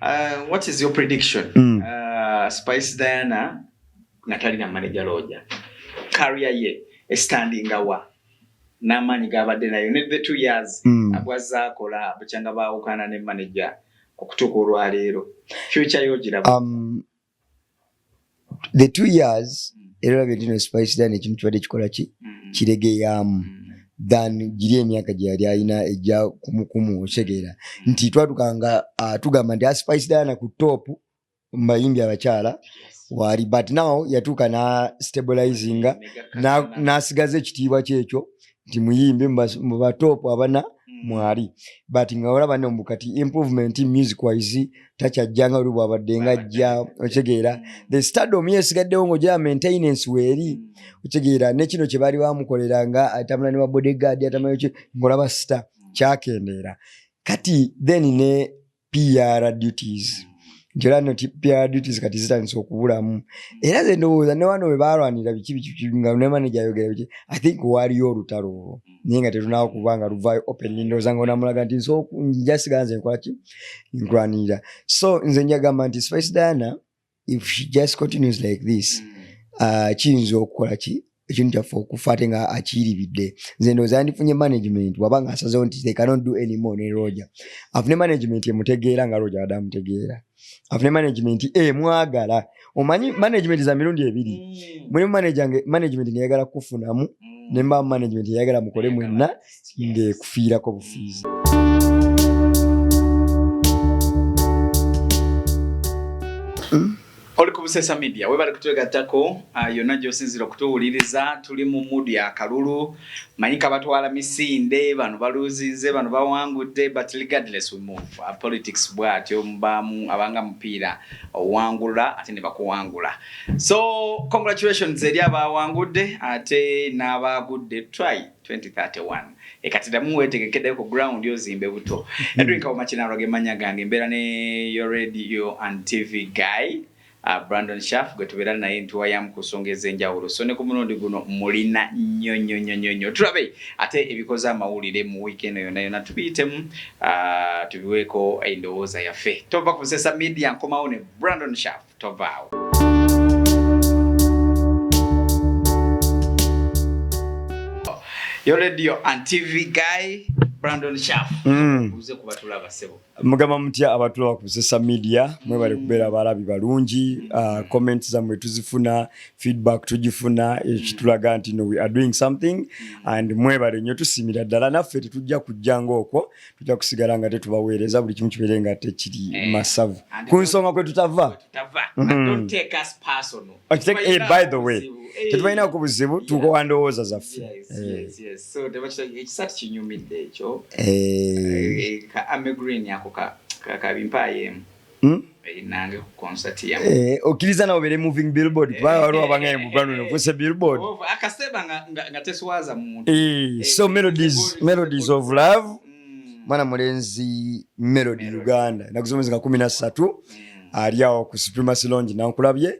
Uh, what is your prediction? Mm. Uh, Spice Diana natali na manager loja. Career ye e standing awa. Namanyi gabadde nayo ne the 2 years mm. abwaza akola buchanga baawukana ne manager okutuka olwa leero. Future yo giraba. Um, the two years mm. era olabye dino spice dan ekintu kibadde kikola ki mm. kiregeyaamu mm. than giri emyaka gye yali alina ejja kumukumu otegeera nti twatukanga ah, tugamba nti aspice ah, dana ku top mubayimbi abakyala waali but now yatuuka na stabilizinga nasigaza ekitiibwa kyekyo nti muyimbe mubatop abana mm. mwali but nga olaba ne mukati improvement music wise takyajjanga oli bwabadde nga ajja okitegeera mm. the stardom yesigaddewo ng'oja maintenance weeri mm. okitegeera ne kino kye baali bamukolera nga atamula ne wa bodyguard atamula ng'olaba sita kyakendeera kati then ne PR duties njola no PR duties kati zitandise okubulamu era ze ndowooza ne wano webalwanira biki biki nga ne manager ayogera biki I think waliyo olutalo olwo naye nga tetunawo kuba nga luvaayo openly ndowooza nga onamulaga nti nso njasiga nze nkolaki nkulwanirira so nze njagamba nti Spice Diana if she just continues like this mm. uh, kiyinza okukola ki ekintu kyaffe okufa ate nga akiyiribidde nze ndooza yandifunye management waba nga asazewo nti they cannot do any more ne roja afune management emutegeera nga roja wade amutegeera afune management emwagala eh, omanyi management za mirundi ebiri mm. mulimu management neyagala kukufunamu mm. nemba management eyagala mukole mwenna ng'ekufiirako bufiizi oli ku busesa media webale kutwegattako uh, yonna gyosinzira okutuwuliriza tuli mu mudu ya kalulu manyi kabatwala misinde bano baluzinze bano bawangudde but regardless we move uh, politics bwatyo mubamu abanga mupiira owangula ate ne bakuwangula so congratulations eri abawangudde ate n'abagudde try 2031 ekati damu wetegekedde ku ground ozimbe buto hmm. Edwin Kawuma Kinaalwa ge mannya gange mbeera ne your radio and TV guy uh, Brandon Shaff gwe tubeera naye ntuwayamu ku nsonga ez'enjawulo so ne ku mulundi guno mulina nnyo nnyo nnyo nnyo nnyo tulabe ate ebikoze amawulire mu wiiki eno yonna yonna tubiyitemu uh, tubiweeko endowooza yaffe tova ku Busesa Media nkomawo ne Brandon Shaff tovaawo. Yoledio and TV guy Brandon Shaff. Mm. Uze kubatula basebo. Mugamba mutya abatula ku social media mwe bali mm. kubera barabi balungi uh, comments za mwe tuzifuna feedback tujifuna mm. ekitulaga nti no we are doing something mm. and mwe bali nyo tusimira dala naffe tetujja kujja ngoko tujja kusigala nga tetubaweereza buli kimu kibeere nga tekiri eh, masavu ku nsonga kwe tutava mm-hmm. tetubalina ku buzibu eh, tukowa ndowooza zaffe Hmm? Eh, okkiriza nawe obeere moving billboard eh, kubanga waliwo eh, abanga emugwano nofuse billboard oh, so melodies melodies of love hmm. mwana mulenzi melody uganda nakusomezi nga kumi na ssatu hmm. ali awo ku supremacy longi nankulabye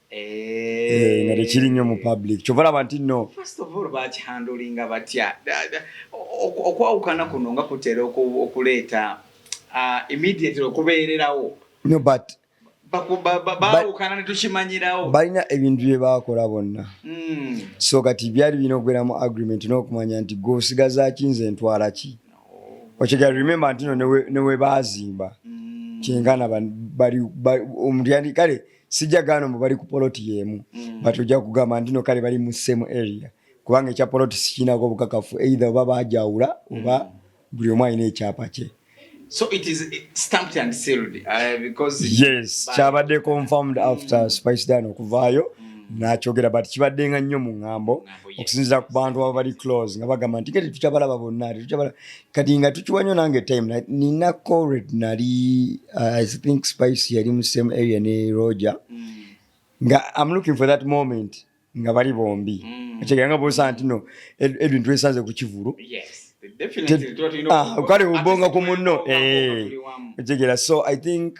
Eh, nga tekiri nnyo mu public kyova laba nti no bakihandulinga batya okwawukana kuno nga kutera okuleeta ah, immediately okubeererawo no but bawukana netukimanyirawo balina ebintu bye baakola bonna hmm. so kati byali birina okubeeramu agreement n'okumanya nti gwe osigazaki nze ntwala ki okyegera remember ntino newebaazimba hmm. kyengana bali omuntu yandi kale sijja gaana mbu bali ku poloti yeemu mm. but ojja kugamba ndino kale bali mu same area kubanga ekya poloti sikiinako obukakafu either oba bajawula oba mm. buli omu alina ekyapa kye So it is eh, stamped and sealed uh, because yes kyabadde confirmed after mm. Spice Dan okuvaayo mm. nakyogera but kibadde nga nnyo mu ŋŋambo okusinziira ku bantu aba bali close nga bagamba nti kati tukyabalaba bonna tetukyabala kati nga tukiwa nyo nange time nina cored nali uh, i think spice yali mu same area ne roger mm. nga i'm looking for that moment nga bali bombi mm. ekigera nga bosa nti no edwin twesanze ku kivulu ah, kale ubonga ku munno eh. ekigera so i think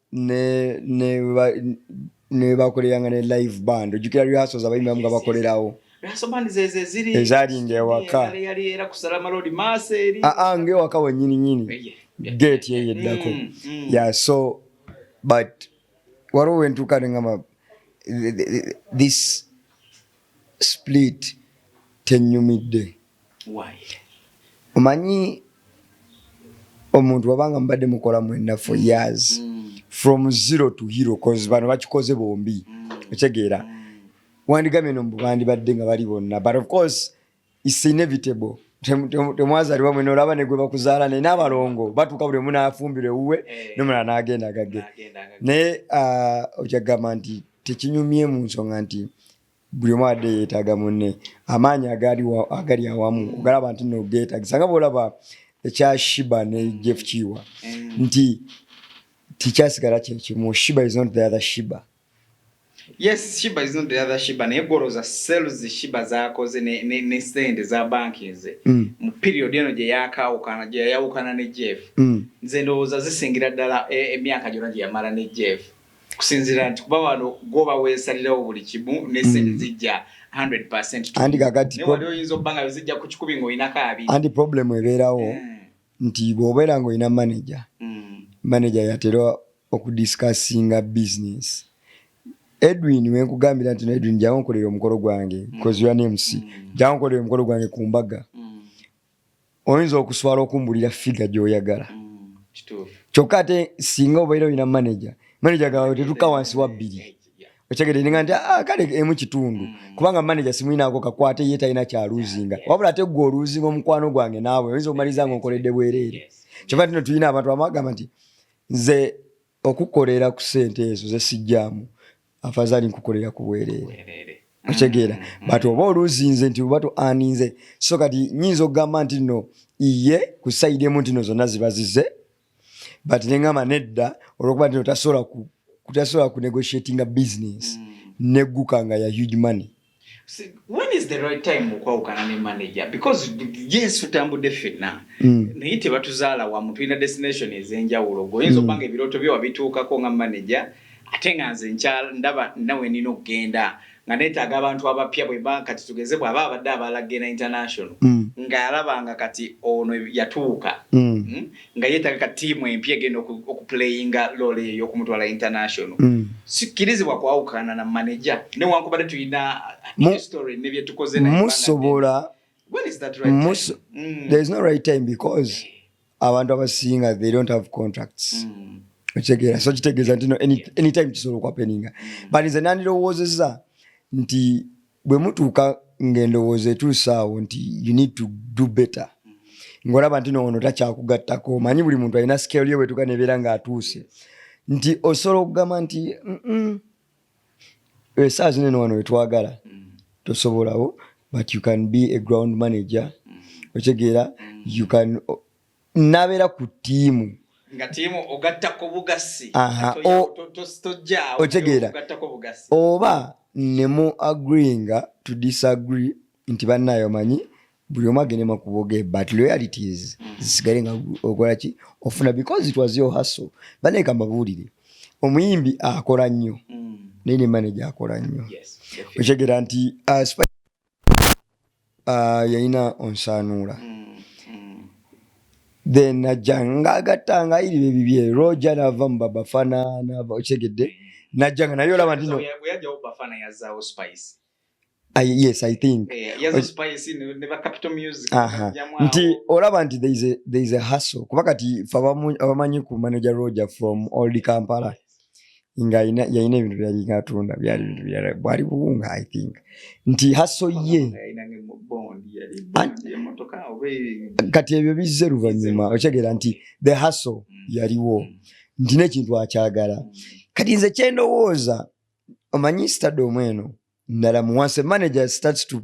ne ne ne bakolera nga ne live band ojukira lyaso za bayimba nga bakolerawo ezalinga ewaka aa nga ewaka wenyini nyini gate yeye eddako mm, mm. ya so but waliwo wentuuka nengamba this split tenyumidde omanyi omuntu wabanga mubadde mukola mwena for mm. years mm. from zero to hero cause bano bakikoze bombi mm. otegeera wandigamye no mubandibadde nga bali bonna but of course its inevitable temwazalibwa mwena olaba negwe bakuzaala naye n'abalongo batuuka buli omu n'afumbirwa ewuwe eh. nomulala n'agenda gage naye uh, okyagamba nti tekinyumye mu nsonga nti Buli omu abadde yeetaaga munne. Amaanyi agali awamu ogalaba nti nno geetagisa nga bw'olaba ekya Shiba ne Jeff Kiiwa nti tikyasigala kye kimu. Shiba is not the other Shiba. Yes, Shiba is not the other Shiba naye gwolowooza sales Shiba z'akoze ne ssente za banki eze mm. mu period eno gye yaakaawukana gye yayawukana ne Jeff mm. nze ndowooza zisingira ddala e, emyaka gyonna gye yamala ne Jeff. kusinzira nti kuba wano gwoba wesalirawo buli kimu nesente mm. zijja 100%wali oyinza okuba nga zijja ku kikubi ngaolinako abiri andi problemu ebeerawo eh. nti bwobeera nga olina manaja mm. manaja yatera okudiscussinga business edwin wenkugambira nti edwin jawo nkolera omukolo gwange mm. koziwa nemusi jawo nkolera omukolo gwange ku mbaga oyinza okuswala okumbulira figa gyoyagala mm, kyokka ate singa obeera olina manaja manaja gawe tetuka wansi wa bbiri okyegede ninga nti ah, kale emu kitundu mm. kubanga manaja simulinaako kakwate ye talina kyaluuzinga wabula ate gwe oluuzinga omukwano gwange naawe oyinza okumaliza nga okoledde bwereere kyova tino tulina abantu amagamba nti nze okukolera ku sente ezo zesijjaamu afazali nkukolera ku bwereere okitegeera mm, mm, mm. but oba oluzinze nti oba tuaninze so kati nyinza okugamba nti no iye ku sayidi emu ntino zonna ziba zize but nengamba nedda olwokuba ntino tasobola ku negotiatinga business negguka nga ya huge money when is the right time okwawukana ne manager because yes tutambudde ffenna mm. naye tebatuzaala wamu tulina destination ez'enjawulo goyinza mm. okubanga ebirooto byo wabituukako nga manager ate nga nze nkyala ndaba nawe nina okugenda nga neetaaga abantu abapya bweba kati tugeze bwaba abadde abaalagenda international mm. ng'alaba nga kati ono yatuuka mm. mm? nga yetaga ka tiimu empya egenda okuplayinga loole eyo okumutwala international mm. sikkirizibwa kwawukana na manaja newankubadde tulina history nebyetukoze musobola there's no right time because eh. abantu abasinga they don't have contracts mm. okitegeera so kitegeeza nti anytime kisobola okwapeninga mm. but nze nandirowoozeza nti bwe mutuuka ng'endowooza etuuse awo nti you need to do better ng'olaba nti noono takyakugattako omanyi buli muntu alina scale yo bwetuuka nebeera ng'atuuse nti osobola okugamba nti esaa zino eno wano wetwagala tosobolawo but you can be a ground manager otegeera you can nabeera ku ttiimu otegeera oba nemu agreeinga to disagree nti bannayo manyi buli omu agende makuboge but loyalities mm. zisigale nga okolaki ofuna because it was your hustle banaye kambabuulire omuyimbi akola nnyo mm. naye ne manaje akola nnyo otegeera nti uh, ah, yalina onsaanuula then najja ngaagatta nga iriba ebibye roja naava mu babafana naava okitegedde najja nga naye olaba ntino I, yes i think eh, nti olaba nti there is a hustle kuba kati fe abamanyi ku manager roger from old kampala nga yalina ebintu byali ngatunda byali bintu byala bwali buwunga i think nti haso ye kati ebyo bizze luvannyuma okitegeera nti the haso mm. yaliwo mm. nti nekintu akyagala mm. kati nze kyendowooza omanyi stade omweno ndala muwansi manager starts to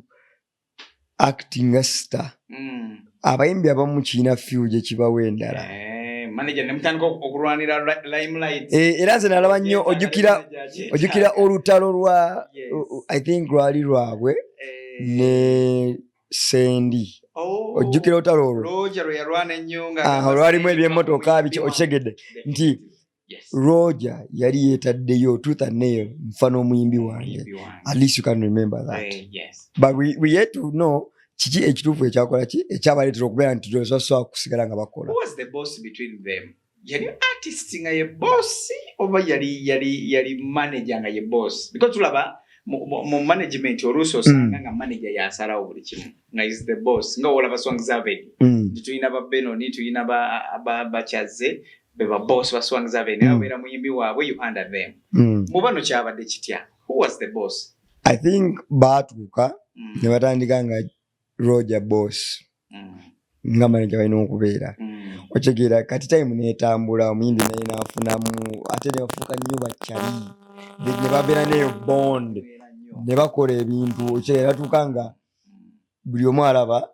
acting nga star mm. abayimbi abamu kiina few gye kibawo endala eh, eh, era nze nalaba nnyo ojukira olutalo lwa i think lwali lwabwe eh. ne sendi oh. ojjukira olutalo olwo ah, olwalimu ebyemotoka biki okitegedde nti Yes. Roger yali yetaddeyo tooth and nail nfa n'omuyimbi wange at least you can remember that uh, yes. but we, we yet to know kiki ekituufu ekyakola ki ekyabaleetera okubeera nti basobola kusigala nga bakola yali artist nga ye boss oba yali yali yali manager nga ye boss because tulaba mu management oluusi osanga mm. nga manager yasalawo buli kimu nga is the boss nga olaba song zavedi mm. nti tulina ba benoni tulina bakyazze beba boss ba swang za bene mm. abera muyimbi wabwe you under them mm. mubano kyabadde kitya who was the boss i think baatuuka mm. ne batandika nga roger boss mm. nga manaja balina okubeera mm. okitegeera kati time netambula omuyimbi naye nafunamu ate nebafuuka nnyo bakyali ne babeera neyo bond ne bakola ebintu okitegeera batuuka nga buli omu alaba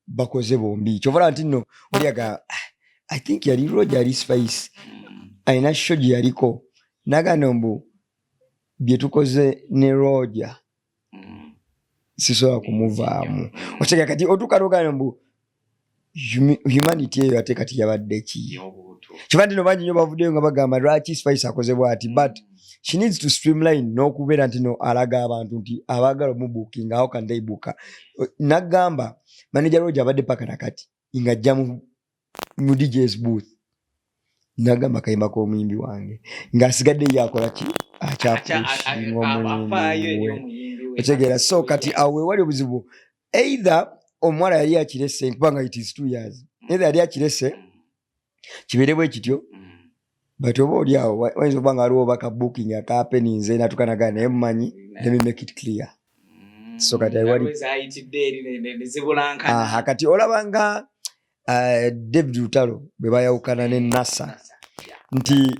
bakoze bombi kyovala nti no oliaga i think yali roja ali spice alina sho gye yaliko nagano mbu byetukoze ne roja sisobola kumuvaamu okitegera kati otuuka nogana mbu humanity eyo ate kati yabadde ki kyova nti no bangi nyo bavuddeyo nga bagamba lwaki spice akozebwa ati but she needs to streamline n'okubeera nti no alaga abantu nti abaagala omubuukinga awo kandaibuuka nagamba manaja roja abadde paka nakati ng'ajja mu djs booth nagamba kayimba k'omuyimbi wange ng'asigadde ye akola ki akyapusinga omuyimbi otegeera so kati awo wewali obuzibu either omuwala yali akirese kubanga it is two years either yali akirese kibeere bwe kityo but oba oli awo wayinza okuba nga waliwo oba ka booking akapeni nze natukanagaa naye mumanyi let me make it clear mm. so kati wali aha kati olaba nga uh, david lutalo bwe bayawukana ne nasa nti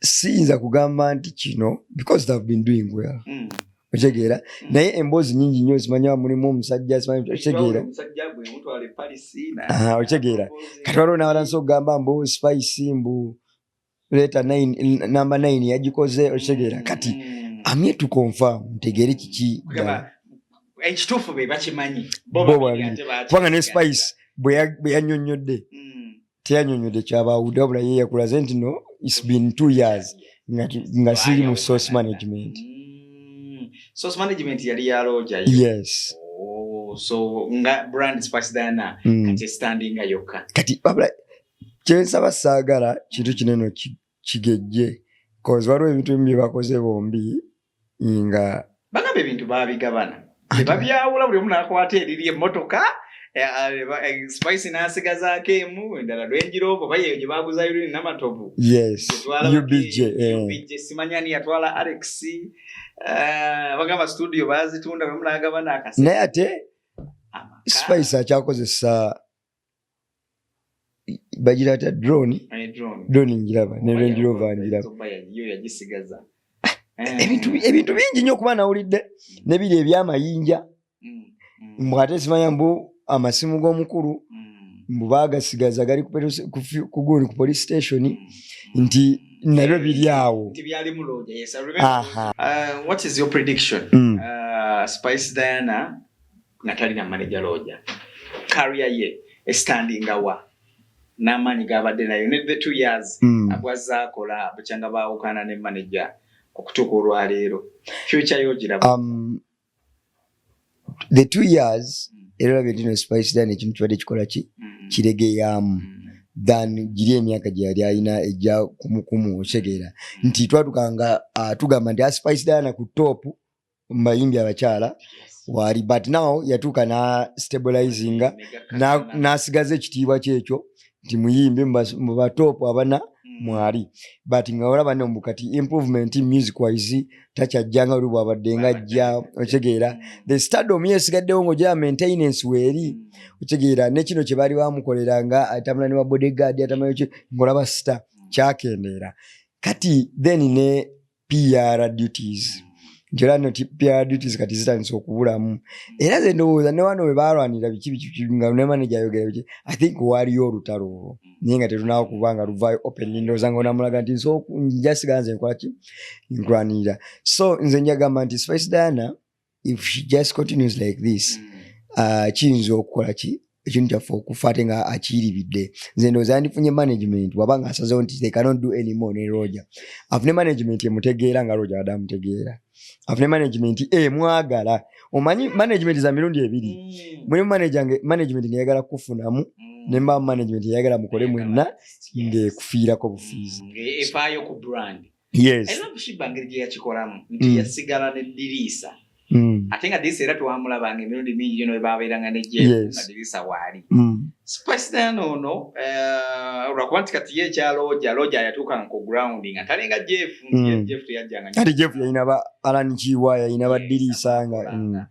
siyinza kugamba nti kino because they've been doing well mm. otegeera mm. naye emboozi nyingi nnyo zimanya mulimu omusajja otegeera ah, otegeera kati waliwo nawalansi okugamba mbu spice mbu leeta namba 9 yagikoze otegeera mm. kati amye tukonfa mutegeere kiki ekituufu be bakimanyi bo babiri kubanga ne spice bwe yanyonnyodde mm. teyanyonyodde kyabawudde wabula ye yakulaze nti no its been two years nga siri mu source management mm. source management yali ya loja yes oh, so nga brand spice diana mm. kati standing yokka kati babla kyensaba saagala kintu kinene kigejje kozi waliwo ebintu bimu byebakoze bombi nga bagamba ebintu babigabana tebabyawula buli omu nakwata eriri emotoka eh, eh, eh, spice nasigazaako emu endala lwenjiroobo oba yeyo gyebaguza yurini namatovu simanya ni yatwala alex bagamba studio bazitunda buli omu nagabana akasi naye ate spice akyakozesa bagira ta drone drone njiraba ne range rover njiraba ebintu ebintu bingi nyo kuba nawulidde mm. ne biri ebyamayinja mm, mm. mbwate simanya mbu amasimu g'omukulu mbu bagasigaza gali kuguni ku police station nti nabyo biri awo uh, what is your prediction uh, spice diana nga talina manager looja career ye estandinga wa n'amaanyi g'abadde nayo ne the two years mm. abwazza akola bukyanga baawukana ne manager okutuuka olwaleero future yogiraba um, the two years mm. era olabye ndino spice dan ekintu kibadde kikola ki mm. kiregeyaamu mm. than giri emyaka gye yali alina ejja kumukumu otegeera nti twatukanga uh, tugamba nti aspice ah, dana ku topu mubayimbi abakyala waali but now yatuuka na stabilizinga nasigaza ekitiibwa kyekyo nti muyimbi mubatoopu abana hmm. mwali but nga olaba ne mukati improvement music wise takyajjanga oli bwabadde nga ajja okitegeera hmm. the stardom yesigaddewo ngaoja maintenance weeri hmm. okitegeera nekino kye baali bamukolera nga atambula ne babodyguard atamanyiki ngaolaba sita kyakendeera kati then ne PR duties njola no PR duties kati zitandise okubulamu era ze ndowooza ne wano webalwanira biki biki nga ne manager ayogera biki I think waliyo olutalo olwo naye nga tetunawo kuba nga luvaayo openly ndowooza nga onamulaga nti nso njasiga nze nkolaki nkulwanirira so nze njagamba nti Spice Diana if she just continues like this mm. uh, kiyinza okukola ki ekintu kyaffe okufa ate nga akiyiribidde nze ndooza yandifunye management waba nga asazewo nti they cannot do any more ne roja afune management emutegeera nga roja wade amutegeera afune management emwagala eh, omanyi management za mirundi ebiri mm. mulimu management neyagala kukufunamu mm. nemba management eyagala mukole mwenna ngekufiirako bufiizi mm. e, yes. era okushiba ngeri gye yakikolamu nti mm. yasigala ne diriisa Mm. ate nga diriisa era twamulabanga emirundi mingi gyo nebabeeranga negyema diriisa waali mm. spasitan ono eh, olwakuba nti kati ye ekyaloja loja yatuukanga ku ground nga tali nga jeff mm. jeff teyajjanga kati jeff yalina ba alan kiwa yalina ba diriisa nga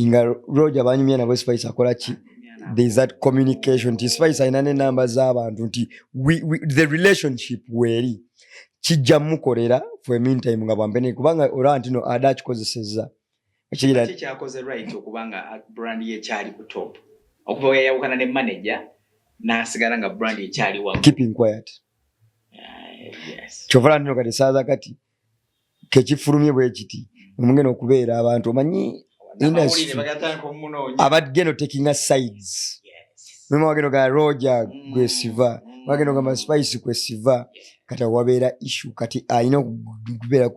nga roja banyumya nabo spice akola ki there's that communication nti spice alina nenamba z'abantu nti the relationship weeri kijja mukolera for a meantime nga bwambene kubanga olaba ntino ada akikozesezza ekirkyakoze right okubanga uh, brand ye kyali ku top okuva weyayawukana ne manager nasigala nga brand ekyali wa keeping quiet uh, kyovala ntino kati esaaza kati kekifulumye bwekiti omugenda okubeera abantu omanyi abageno taking a sides muma wageno ga roja mm. gwesiva wageno ga maspice kwesiva kati awabeera issu kati alina okubeera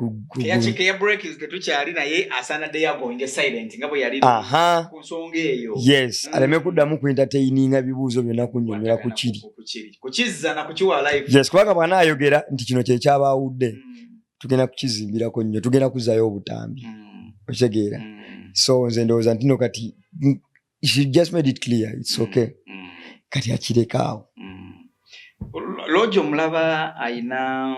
yes mm. aleme kuddamu kuintateininga bibuuzo byonna kunyonyola ku kiri kukizza na kukiwa life yes kubanga bwana ayogera nti kino kye kyabaawudde mm. tugenda kukizimbirako nnyo tugenda kuzayo obutambi mm. okitegeera mm. so nze ndowooza ntino kati she just made it clear its mm. okay mm. kati akirekaawo mm. logi omulaba ayina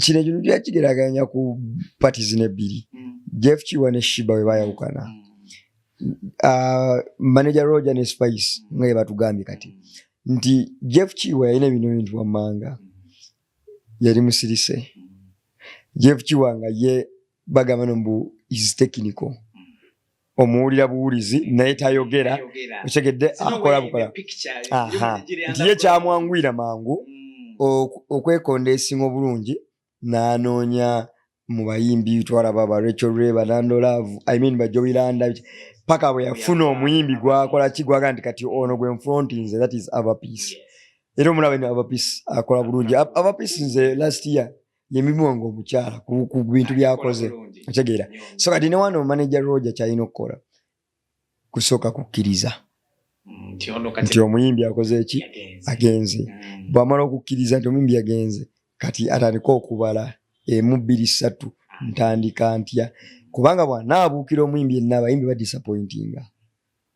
kino ekintu kyakigeraganya ku patis nebbiri mm. jeff kiwa ne shiba we bayawukana mm. uh, manager roger ne spice mm. nga yebatugambye kati nti jeff kiwa yalina bino bintu wammanga yali musirise jeff kiwa nga ye bagamba no mbu is technical omuwulira buwulizi naye tayogera otegedde akola bukola nti ye kyamwanguyira mangu mm. okwekonda esinga obulungi n'anoonya mu bayimbi twalaba ba rachel reba nandolavu i mean bajowiranda paka bwe yafuna omuyimbi gwakola ki gwaga nti kati ono gwe nfronti nze that is avapeace era omulaba ni avapeace akola bulungi avapeace nze last year yemibuwango omukyala ku bintu byakoze otegeera so kati ne wano manager roger kyalina okukola kusooka kukkiriza nti omuyimbi akoze eki agenze mm. bwamala okukkiriza nti omuyimbi agenze kati atandika okubala emu bbiri ssatu ntandika ntya kubanga bwanaabuukira omuyimbi enna abayimbi badisappointinga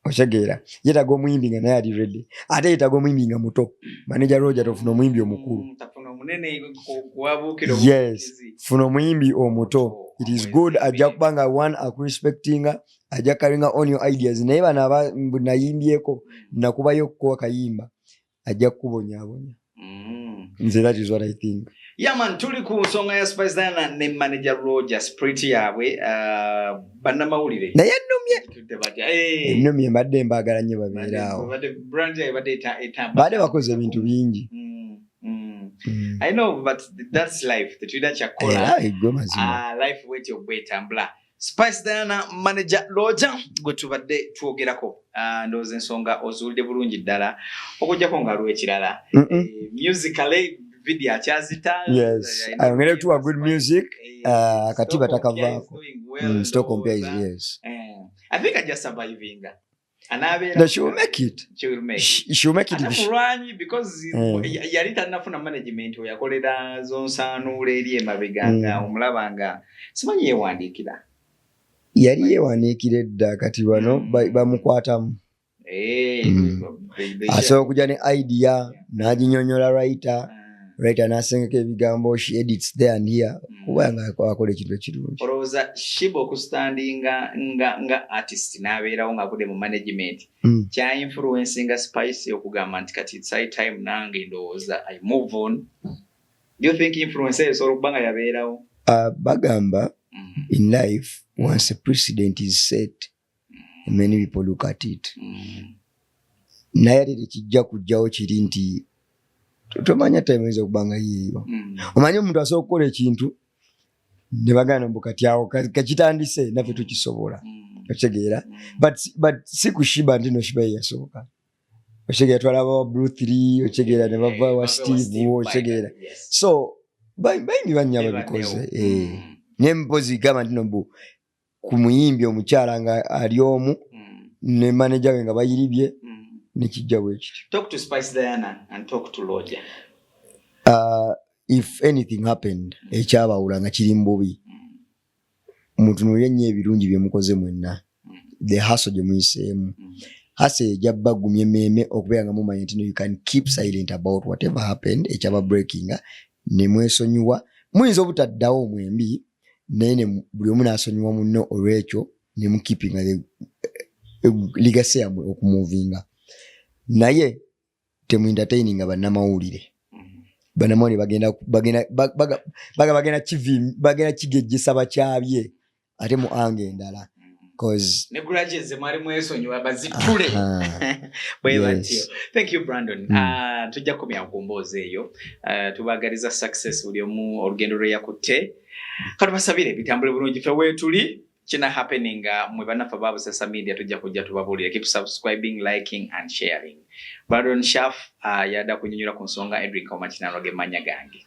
okitegeera yetaga omuyimbi nga naye ali redi ate yetaga omuyimbi nga muto maneja roja tofuna omuyimbi omukulu mm, yes funa omuyimbi omuto it is good ajja kuba nga one akurespectinga ajja karinga on your ideas naye bano nayimbyeko nakubayo okukowa kayimba ajja kukubonyabonya mm. nze that is what i think yaman tuli ku nsonga ya spice dana ne manager roger sprit yabwe uh, bannamawulire naye nnumye ennumye mbadde mbaagala nnyo babeeraawo baade bakoze ebintu bingi mm. Mm. I know, but that's life. Tetulina kyakukola. Era egwe mazima. Ah, life wetyo gwetambula. Spice Diana manager Loja gwe tubadde twogerako uh, ndowooza ensonga ozuulidde bulungi ddala okujjako nga waliwo ekirala mm -mm. Eh, musically video akyazita yes eh, ayongere tuwa good music eh, ah, akatiba takavaako mm, stock compare is yes eh, i think i just surviving anabeera she will make it she will make it she will make it this rwanyi because mm. yali tanafuna management oyakolera zonsanuula eri emabega mm. nga omulaba nga simanyi yewandiikira yali yewandiikira edda kati bano mm. bamukwatamu eh, mm. asobola okuja ne idea naginyonyola writer ah. writer nasengeka ebigambo she edits there and here mm. kuba nga akola ekintu ekirungi olowooza shiba okustandinga nga nga artist n'abeerawo ng'avude mu management mm. kya influencinga spice okugamba nti kati sai time nange ndowooza i move on do you think influence eyo esobola okuba nga yabeerawo uh, bagamba mm. in life once a precedent is set many people look at it mm. naye ate tekijja kujjawo kiri nti tomanya taimeza okubanga yeeyo mm. omanye omuntu asobola okukola ekintu ne bagana mbu kati awo kakitandise naffe tukisobola mm. okitegeera but si kushiba nti noshiba yeyasoboka okitegeera twalaba wa blue three okitegeera ne bava wa steve okitegeera so baingi banya babikoze eh. naye mpozi gamba nti nobu ku muyimbi omukyala nga ali omu mm. ne maneja we nga bayiribye mm. nekijja bwekityo uh, if anything happened mm. ekyabawula nga kiri mububi mutunulire nnyo ebirungi byemukoze mwenna the haso gyemuyiseemu hasa eja bagumya emeeme okubeera nga mumanya nti no you can keep silent about whatever happened ekyaba breakinga nemwesonyiwa muyinza obutaddawo mwembi mm. naye buli omu nasonyiwa munno olwekyo nemukipinga eh, eh, ligase yamwe okumuvinga naye temuentertaininga bannamawulire mm-hmm. banamawulire bagenda bagenda baga bagenda kivim bagenda kigejjesa bakyabye ate mu anga endala ne grudges ze mwali mwesonyiwa bazitule bwe batyo thank you brandon mm. uh, tujja kukomya ku mboozi eyo uh, tubagaliza success buli omu olugendo lwe yakutte katubasabire bitambule bulungi fe weetuli kina happening uh, mwe banaffe ba busesa media tujja kujja tubabuulire keep subscribing liking and sharing brandon shaf uh, yada kunyonyola ku nsonga edric omakinano ge manya gange